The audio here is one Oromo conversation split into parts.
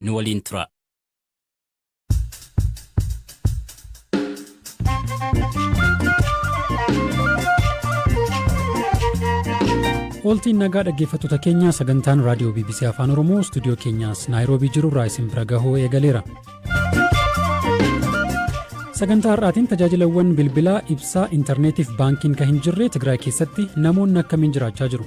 nu waliin turaa. Ooltiin nagaa dhaggeeffattoota keenyaa sagantaan raadiyoo BBC Afaan Oromoo istuudiyoo keenyaas Naayiroobii jiru irraa isin bira gahuu eegaleera. Sagantaa har'aatiin tajaajilawwan bilbilaa, ibsaa, intarneetiif baankiin kan hin jirre Tigraay keessatti namoonni akkamiin jiraachaa jiru?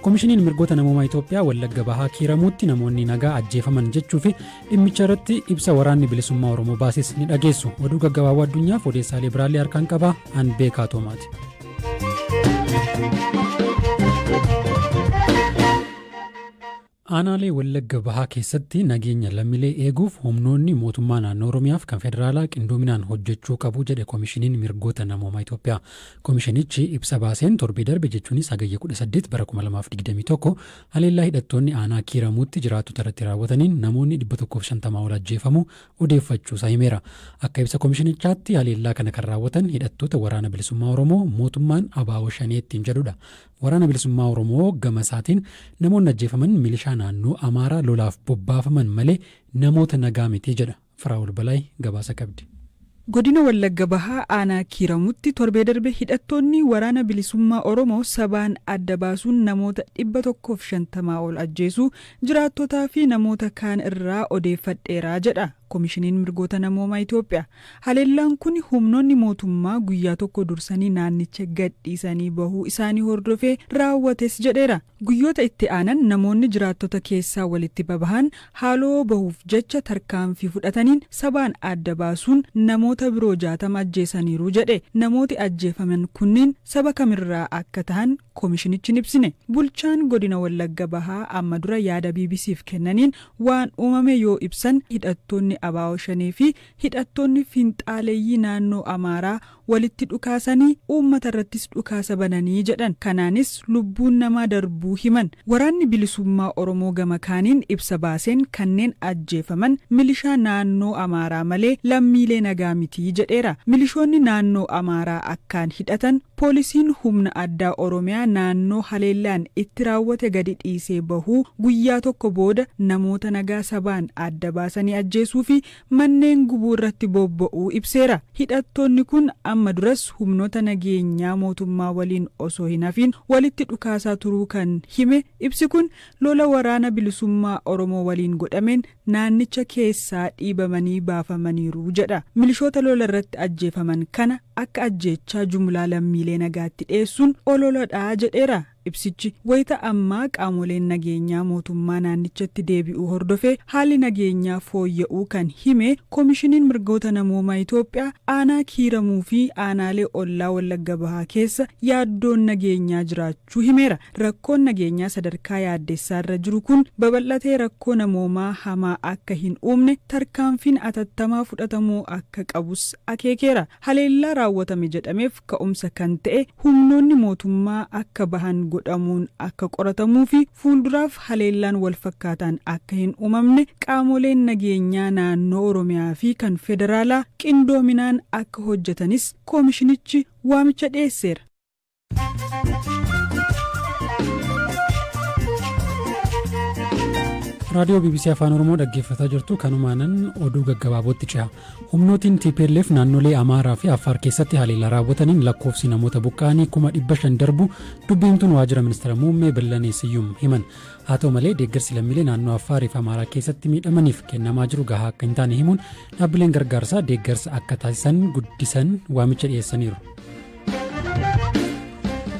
Komishiniin Mirgoota Namoomaa Itoophiyaa Wallagga Bahaa Kiiramuutti namoonni nagaa ajjeefaman jechuu fi dhimmicha irratti ibsa waraanni bilisummaa Oromoo baases ni dhageessu. Oduu gaggabaaboo addunyaaf odeessaalee biraallee harkaan qaba. An beekaa toomaati. Aanaalee Wallagga Bahaa keessatti nageenya lammiilee eeguuf humnoonni mootummaa naannoo Oromiyaaf kan federaalaa qindoominaan hojjechuu qabu jedhe Komishiniin Mirgoota Namoomaa Itoophiyaa. Komishinichi ibsa baaseen torbee darbe jechuunis Hagayya 18 bara 2021 haleellaa hidhattoonni aanaa Kiiramuutti jiraattota irratti raawwataniin namoonni 150 ol ajjeefamuu odeeffachuusaa himeera. Akka ibsa komishinichaatti haleellaa kana kan raawwatan hidhattoota Waraana Bilisummaa Oromoo mootummaan abo Shanee ittiin jedhudha. Waraana Bilisummaa Oromoo gama isaatiin namoonni ajjeefaman milishaa naannoo Amaaraa lolaaf bobbaafaman malee namoota nagaa miti jedha. Firaa'ol Balaay gabaasa qabdi. Godina Wallagga Bahaa aanaa Kiiramutti torbee darbe hidhattoonni Waraana Bilisummaa Oromoo sabaan adda baasuun namoota 150 ol ajjeesuu jiraattotaa fi namoota kaan irraa odeeffadheera jedha Komishiniin Mirgoota Namoomaa Itoophiyaa. Haleellaan kun humnoonni mootummaa guyyaa tokko dursanii naannicha gadhiisanii bahuu isaanii hordofee raawwates jedheera. Guyyoota itti aanan namoonni jiraattota keessaa walitti babahan haaloo bahuuf jecha tarkaanfii fudhataniin sabaan adda baasuun namoota biroo 60 ajjeesaniiru jedhe. Namooti ajjeefaman kunniin saba kamirraa akka tahan komishinichi hin ibsine. Bulchaan godina Wallagga Bahaa amma dura yaada BBC'f kennaniin waan uumame yoo ibsan hidhattoonni abo Shanee fi hidhattoonni finxaaleyyii naannoo Amaaraa walitti dhukaasanii uummata irrattis dhukaasa bananii jedhan. Kanaanis lubbuun namaa darbuu himan. Waraanni Bilisummaa Oromoo gama kaaniin ibsa baaseen kanneen ajjeefaman milishaa naannoo Amaaraa malee lammiilee nagaa miti jedheera. Milishoonni naannoo Amaaraa akkaan hidhatan poolisiin humna addaa Oromiyaa naannoo haleellaan itti raawwate gadi dhiisee bahuu guyyaa tokko booda namoota nagaa sabaan adda baasanii ajjeesuufi manneen gubuu irratti bobba'uu ibseera. Hidhattoonni kun amma duras humnoota nageenyaa mootummaa waliin osoo hin hafiin walitti dhukaasaa turuu kan hime ibsi kun, lola Waraana Bilisummaa Oromoo waliin godhameen naannicha keessaa dhiibamanii baafamaniiru jedha. Milishoota lola irratti ajjeefaman kana akka ajjeechaa jumlaa lammiilee nagaatti dhiyeessuun ololadha jedheera. Ibsichi wayita ammaa qaamoleen nageenyaa mootummaa naannichatti deebi'uu hordofee haalli nageenyaa fooyya'uu kan hime Komishiniin Mirgoota Namoomaa Itoophiyaa, aanaa Kiiramuu fi aanaalee ollaa Wallagga Bahaa keessa yaaddoon nageenyaa jiraachuu himeera. Rakkoon nageenyaa sadarkaa yaaddessaarra jiru kun babal'atee rakkoo namoomaa hamaa akka hin uumne tarkaanfiin atattamaa fudhatamuu akka qabus akeekeera. Haleellaa raawwatame jedhameef ka'umsa kan ta'e humnoonni mootummaa akka bahan godhamuun akka qoratamuu fi fuulduraaf haleellaan walfakkaataan akka hin uumamne qaamoleen nageenyaa naannoo Oromiyaa fi kan federaalaa qindoominaan akka hojjetanis koomishinichi waamicha dhiyeesseera. raadiyoo bbc afaan oromoo dhaggeeffataa jirtu kanumaanan oduu gaggabaabootti ce'a humnootiin tplf naannolee amaaraa fi affaar keessatti haleellaa raawwataniin lakkoofsi namoota buqqa'anii kuma dhibba shan darbu dubbiimtuun waajjira ministeera muummee billanee siyyum himan haa ta'u malee deeggarsi lammiilee naannoo affaarii fi amaaraa keessatti miidhamaniif kennamaa jiru gahaa akka hin taane himuun dhaabbileen gargaarsaa deeggarsa akka taasisan guddisan waamicha dhiyeessaniiru.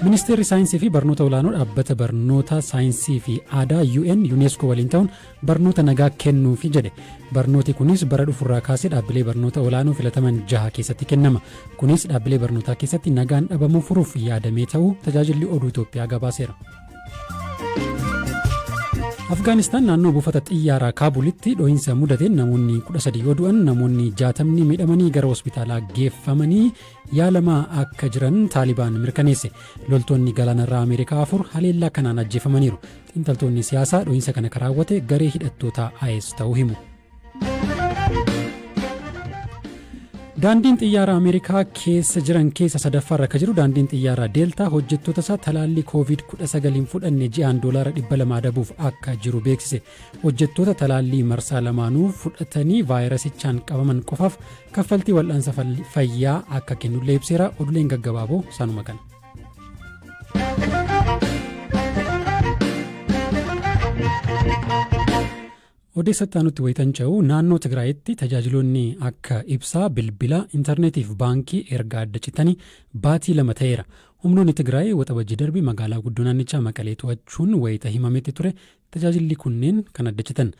Ministeerri Saayinsii fi Barnoota Olaanoo Dhaabbata Barnoota Saayinsii fi Aadaa UN UNESCO waliin ta'uun barnoota nagaa kennuufi jedhe. Barnooti kunis bara dhufurraa kaasee dhaabbilee barnoota olaanoo filataman jaha keessatti kennama. Kunis dhaabbilee barnootaa keessatti nagaan dhabamuu furuuf yaadamee ta'uu tajaajilli oduu Itoophiyaa gabaaseera. Afgaanistaan naannoo buufata xiyyaaraa Kaabulitti dho'iinsa mudateen namoonni 13 yoo du'an namoonni 60 miidhamanii gara hospitaalaa geeffamanii yaalamaa akka jiran Taalibaan mirkaneesse. Loltoonni galaanarraa Ameerikaa afur haleellaa kanaan ajjeefamaniiru. Xiinxaltoonni siyaasaa dho'iinsa kana kan raawwate garee hidhattootaa IS ta'uu himu. Daandiin xiyyaara Ameerikaa keessa jiran keessa sadaffaarra akka jiru daandiin xiyyaara Deeltaa hojjettoota isaa talaallii COVID-19 hin fudhanne ji'aan doolaara 200 adabuuf akka jiru beeksise. Hojjettoota talaallii marsaa lamaanuu fudhatanii vaayirasichaan qabaman qofaaf kaffaltii wal'aansa fayyaa akka kennullee ibseera. Oduuleen gaggabaaboo sanuma kana. Odeessatti aanutti wayitan ce'u naannoo Tigraayitti tajaajiloonni akka ibsaa, bilbila, intarneetii fi baankii erga adda citanii baatii lama ta'eera. Humnoonni Tigraay waxabajjii darbe magaalaa guddoo naannichaa Maqalee to'achuun wayita himametti ture Tajaajilli kunneen kan addaccitan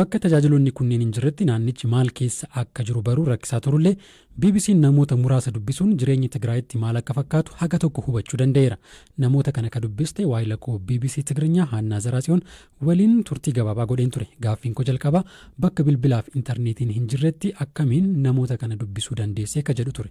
bakka tajaajiloonni kunneen hin jirretti naannichi maal keessa akka jiru baruun rakkisaa turullee BBC'n namoota muraasa dubbisuun jireenyi Tigraayitti maal akka fakkaatu haga tokko hubachuu danda'eera. Namoota kana ka dubbiste waahila koo bbc Tigrinyaa Haannaa Zaraatsiyoon waliin turtii gabaabaa godheen ture. Gaaffiin koo jalqabaa bakka bilbilaa fi intarneetiin hin jirretti akkamiin namoota kana dubbisuu dandeesse ka jedhu ture.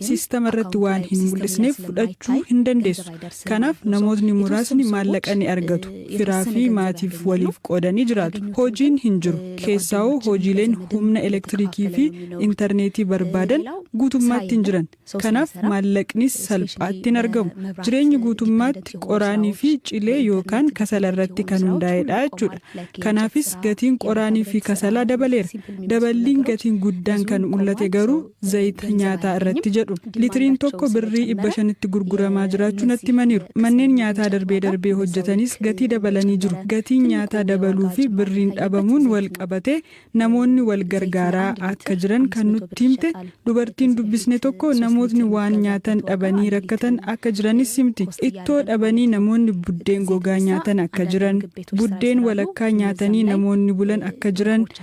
siistama irratti waan hin mul'isneef fudhachuu hin dandeessu. Kanaaf namootni muraasni maallaqa ni argatu. Firaa fi maatiif waliif qoodanii jiraatu. Hojiin hin jiru. Keessaawoo hojiileen humna elektirikii fi intarneetii barbaadan guutummaatti hin jiran. Kanaaf maallaqnis salphaatti hin argamu. Jireenyi guutummaatti qoraanii fi cilee yookaan kasala irratti kan hundaa'edha jechuudha. Kanaafis gatiin qoraanii fi kasalaa dabaleera. Daballiin gatiin guddaan kan mul'ate garuu zayita nyaataa irratti jedhu litiriin tokko birrii dhibba shanitti gurguramaa jiraachuu natti himaniiru manneen nyaataa darbee darbee hojjetanis gatii dabalanii jiru gatiin nyaataa dabaluu fi birriin dhabamuun wal qabatee namoonni wal gargaaraa akka jiran kan nutti himte dubartiin dubbisne tokko namootni waan nyaatan dhabanii rakkatan akka jiranis himti ittoo dhabanii namoonni buddeen gogaa nyaatan akka jiran buddeen walakkaa nyaatanii namoonni bulan akka jiran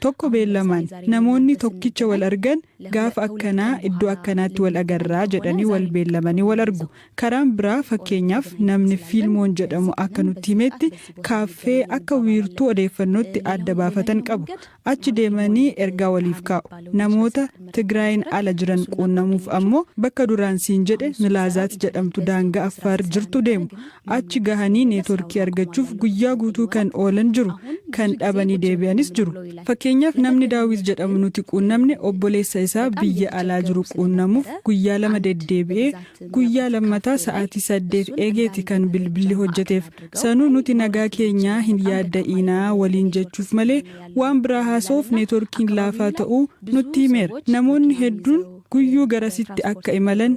Tokko beellamaan, namoonni tokkicha wal argan gaafa akkanaa iddoo akkanaatti wal agarra jedhanii wal beellamanii wal argu. Karaan biraa fakkeenyaaf namni Fiilmoon jedhamu akka nutti himetti kaaffee akka wiirtuu odeeffannootti adda baafatan qabu. Achi deemanii ergaa waliif kaa'u. Namoota Tigraayiin ala jiran quunnamuuf ammoo bakka duraan siin jedhe Milaazaat jedhamtu daangaa Affaar jirtu deemu. Achi gahanii neetworkii argachuuf guyyaa guutuu kan oolan jiru, kan dhabanii deebi'anis jiru. Fakkeenyaaf namni Daawit jedhamu nuti quunnamne obboleessa isaa biyya alaa jiru quunnamuuf guyyaa lama deddeebi'ee guyyaa lammataa sa'aatii saddeet eegeeti kan bilbilli hojjeteef. Sanuu nuti nagaa keenyaa hin yaadda'iinaa waliin jechuuf malee waan biraa haasa'uuf neetworkiin laafaa ta'uu nutti himeera. Namoonni hedduun guyyuu garasitti akka imalan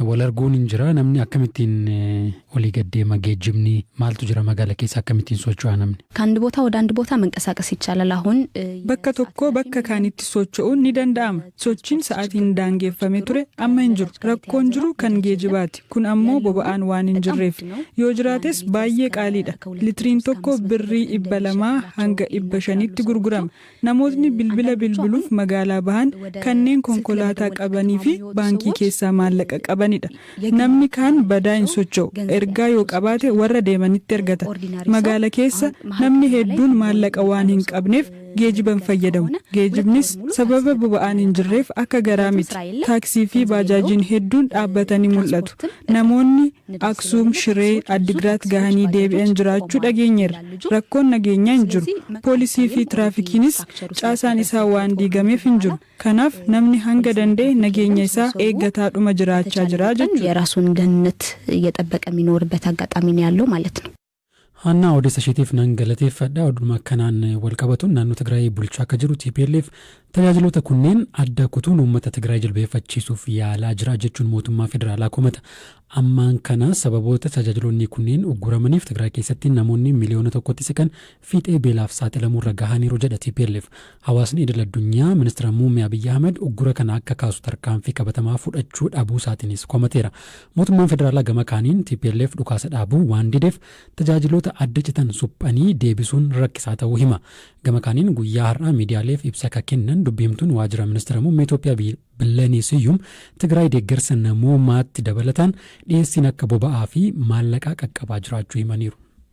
Wal arguun hin jira namni akkamittiin olii gad deema geejjibni maaltu jira magaala keessa akkamittiin socho'a namni. Kand botaa wadaand botaa manqasaaqas yichaalal ahun. Bakka tokkoo bakka kaanitti socho'uun ni danda'ama. Sochiin sa'aatiin daangeffame ture amma hin jiru. Rakkoon jiru kan geejibaati. Kun ammoo boba'aan waan hin jirreef. Yoo jiraates baayyee qaaliidha. Litiriin tokko birrii dhibba lamaa hanga dhibba shaniitti gurgurama. Namootni bilbila bilbiluuf magaalaa bahan kanneen konkolaataa qabanii fi baankii keessaa maallaqa qabani dha. Namni kaan badaa hin socho'u. Ergaa yoo qabaate warra deemanitti ergata. Magaala keessa namni hedduun maallaqa waan hin qabneef geejiba hin fayyadamu. Geejibnis sababa boba'aan hin jirreef akka garaa miti. Taaksii fi baajaajiin hedduun dhaabbatanii mul'atu. Namoonni. Aksuum, Shiree, Addigiraat gahanii deebi'an jiraachuu dhageenyeerra. Rakkoon nageenyaa hin jiru. Poolisii fi tiraafikiinis caasaan isaa waan diigameef hin jiru. Kanaaf namni hanga danda'e nageenya isaa eeggataadhuma jiraachaa jira jechuudha. Haannaa odeessa isheetiif nan galateeffadha. Oduma kanaan walqabatuun naannoo Tigraay bulchaa akka jiru tplf tajaajiloota kunneen adda kutuun uummata Tigraay jilbeeffachiisuuf yaalaa jira jechuun mootummaa federaalaa komata. Ammaan kana sababoota tajaajiloonni kunneen ugguramaniif Tigraay keessatti namoonni miliyoona tokkotti siqan fiixee beelaaf saaxilamuurra gahaniiru jedha tplf. Hawaasni idil addunyaa Ministira Muummee Abiyyi Ahmad uggura kana akka kaasu tarkaanfii qabatamaa fudhachuu dhabuusaatiinis komateera. Mootummaan federaalaa gama kaaniin tplf dhukaasa dhaabuu waan dideef tajaajiloota adda citan suphanii deebisuun rakkisaa ta'uu hima. Gama kaaniin guyyaa har'aa miidiyaaleef ibsa ka kennan dubbi himtuun waajira Ministira Muummee Itoophiyaa Billenii Siyyum Tigraay deeggarsa namoomaatti dabalataan dhiyeessiin akka boba'aa fi maallaqaa qaqqabaa jiraachuu himaniiru.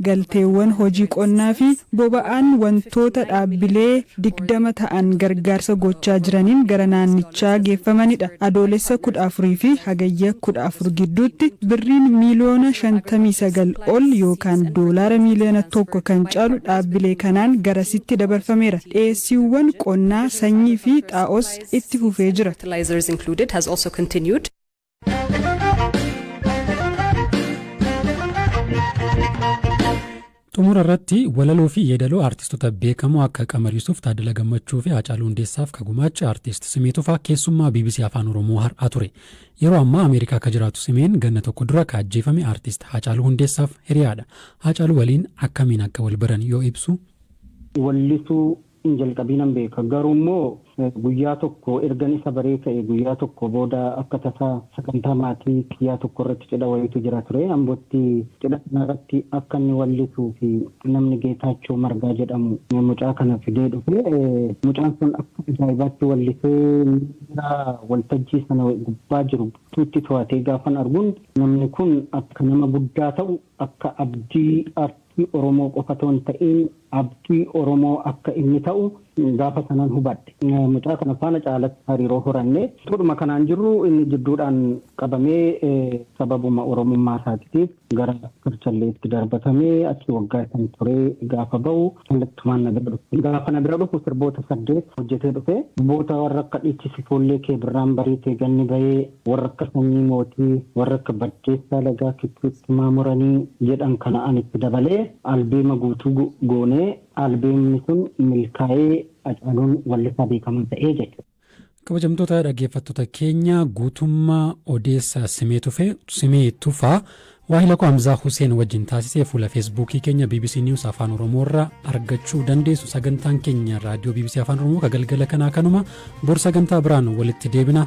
Galteewwan hojii qonnaa fi boba'aan wantoota dhaabbilee digdama ta'an gargaarsa gochaa jiraniin gara naannichaa geeffamanidha. Adoolessa kudha afur fi Hagayya kudha afur gidduutti Birriin miiliyoona shantamii sagal ol yookaan doolaara miiliyoona tokko kan caalu dhaabbilee kanaan garasitti dabarfameera. Dhiyeessiiwwan qonnaa, sanyii fi xaa'oos itti fufee jira. Xumura irratti walaloo fi yeedaloo aartistoota beekamoo akka Qamar Yusuuf, Taaddala Gammachuu fi Haacaaluu Hundeessaaf ka gumaache aartist Simee Tufaa keessummaa BBC Afaan Oromoo har'aa ture. Yeroo ammaa Ameerikaa akka jiraatu Simeen ganna tokko dura ka ajjeefame aartist Haacaaluu Hundeessaaf hiriyaadha. Haacaaluu waliin akkamiin akka wal baran yoo ibsu. Wallisuu hin jalqabiinan beeka. Garuummoo guyyaa tokko ergan isa baree ka'e guyyaa tokko booda akka tasaa sagantaa maatii kiyyaa tokkorratti cidha wayiitu jira ture. Ambotti cidha sanarratti akka inni wallisuufi namni Geetaachoo Margaa jedhamu mucaa kana fidee dhufe. Mucaan sun akka ajaa'ibaatti wallisee miira waltajjii sana gubbaa jiru guutuutti to'atee gaafan argun namni kun akka nama guddaa ta'u akka abdii Abdii Oromoo qofa otoo hin ta'iin abdii Oromoo akka inni ta'u gaafa sanan hubadhe. Mucaa kana faana caalatti hariiroo horanne. Utuudhuma kanaan jirru inni jidduudhaan qabamee sababuma Oromummaa isaatitiif gara Karchalleetti darbatamee achi waggaa shan turee gaafa ba'u kallattumaan na bira dhufe. Gaafa na bira dhufu sirboota saddeet hojjetee dhufe. Sirboota warra akka Dhiichisi Foollee kee Birraan bariite Ganni bahee Warra akka Sanyii Mootii, warra akka Baddeessaa Lagaa Kichuu-Ittimaa Muranii jedhan kana ani itti dabalee albeema guutuu goonee albeemni sun milkaa'ee Hacaaluun wallisaa beekamaa ta'e jechuudha. Kabajamtoota dhaggeeffattoota keenya guutummaa odeessa Simee Tufee, Simee Tufaa, waahila koo Hamzaa Huseen wajjin taasise fuula Feesbuukii keenya bbc News Afaan Oromoo irra argachuu dandeessu. Sagantaan keenya raadiyoo bbc Afaan Oromoo ka galgala kanaa kanuma bor sagantaa biraan walitti deebina.